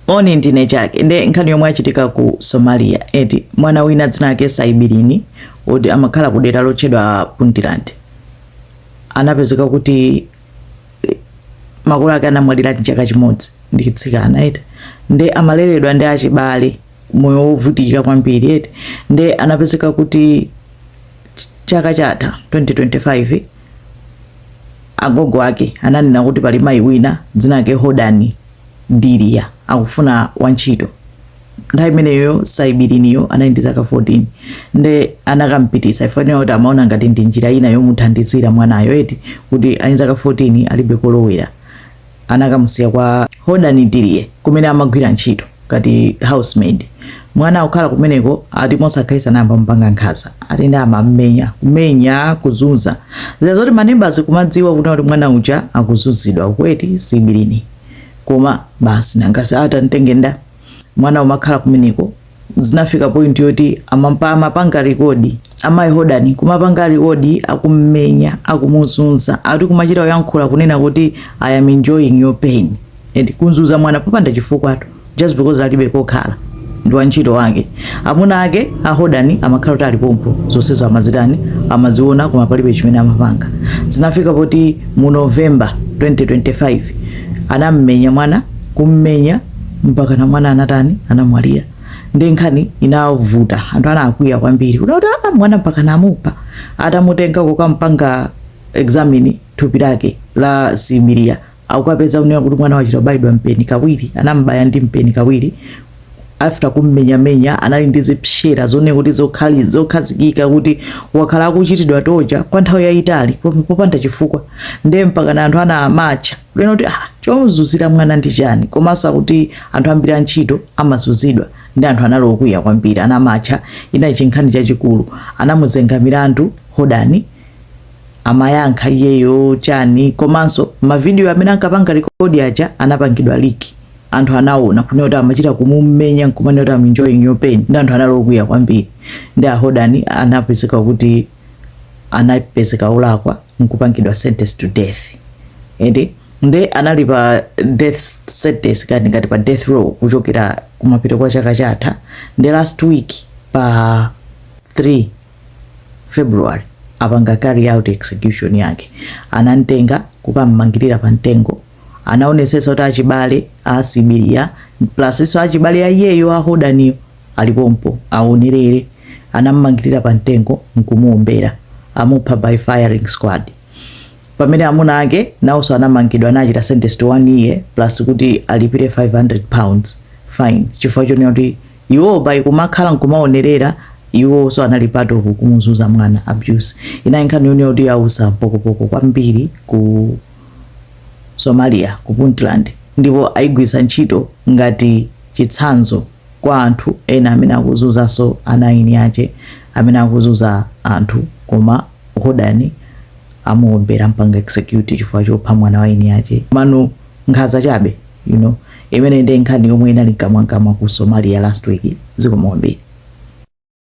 Moni ndine chake nde nkhani yomwe yachitika ku Somalia eti mwana wina dzina lake Saibirini oti amakhala ku dera lotchedwa Puntland anapezeka kuti eh, makolo ake anamwalira ndi chaka chimodzi ndi tsikana eti nde amaleredwa ndi achibale moyo wovutika kwambiri eti nde anapezeka kuti ch- chaka chatha 2025 agogo ake ananena kuti pali mayi wina dzina lake Hodani Diriye akufuna wantchito. Nthawi imeneyoyo Saibiriniyo anali ndi zaka 14. Nde anakamupititsa chifukwa tinena kuti amaona ngati ndi njira ina yomuthandizira mwanayo eti kuti ali ndi zaka 14 alibe kolowera. Anakamusiya kwa Hodani Diriye kumene amagwira ntchito ngati housemaid. Mwana akukhala kumeneko ati mosakhalitsa anayamba kumupanga nkhanza ati nde amamumenya, kumenya, kuzunza. Zija zoti ma neighbours kumadziwa kunena kuti mwana uja akuzunzidwa uku eti Saibirini koma basi nanga si ati amtenge ndani? Mwana kumakhala kumeneko zinafika point yoti amampa amapanga record amayi hodani kumapanga record akumumenya, akumuzunza ati kumachita kuyankhula kunena kuti I am enjoying your pain. eti kunzuza mwana popanda chifukwatu just because alibe kokhala ndi wantchito wake amuna ake a Hodani amakhala kuti ali pompo zonsezo amazitani amaziona koma palibe chimene amapanga zinafika poti mu november 2025 anammenya mwana kummenya mpaka na mwana anatani anamwalira nde nkhani inavuta anthu anakwiya kwambiri kuti kuti "Ah, mwana mpaka namupa atamutenga kukampanga examine thupi lake la Saibirini akukapeza kunena kuti mwana wachita kubayidwa mpeni kawiri anamubaya ndi mpeni kawiri after kummenyamenya anali ndi zipsera zooneka kuti zokhali zokhazikika kuti wakhala akuchitidwa torture kwa nthawi yayitali koma popanda chifukwa ndiye mpaka na anthu ana amatcha kunena kuti ah chomuzuzira mwana ndi chani komanso akuti anthu ambiri antchito amazuzidwa nde anthu anali okwiya kwambiri anamatcha inali chinkhani chachikulu anamuzenga milandu Hodani amayankha iyeyo chani komanso mavidiyo amene ankapanga rekodi aja anapangidwa leak anthu anaona kunena kuti amachita kumumenya nkumanena kuti am enjoying your pain nde anthu anali okwiya kwambiri nde a Hodani anapezeka kuti anapezeka olakwa nkupangidwa sentence to death ende nde anali pa death sentence kani ngati pa death row kuchokera kumapeto kwa chaka chatha nde last week pa 3 february apanga carry out execution yake anamtenga kukam'mangirira pa mtengo anaonetsetsa kuti achibale a sibiliya plus nso achibale a iyeyo a hodaniyo alipompo aonerere anam'mangirira pa mtengo nkumuombera amupha by firing squad pamene amuna ake nawonso anamangidwa anawachita sentence to one year plus kuti alipire 500 pounds fine chifukwa chonena kuti Iwo by kumakhala nkumaonerera iwonso anali part of kumuzuza mwana abuse. Inali nkhani yonena kuti yautsa pokopoko kwambiri ku Somalia ku Puntland ndipo ayigwiritsa ntchito ngati chitsanzo kwa anthu ena amene akuzunzanso ana eni ache amene akuzunza anthu koma Hodani amuombera ampanga execute chifukwa chopha mwana wa eni ache. Komano nkhanza chabe. you know imene ndi nkhani yomwe inali mkamwamkamwa ku somalia last week zikomo kwambiri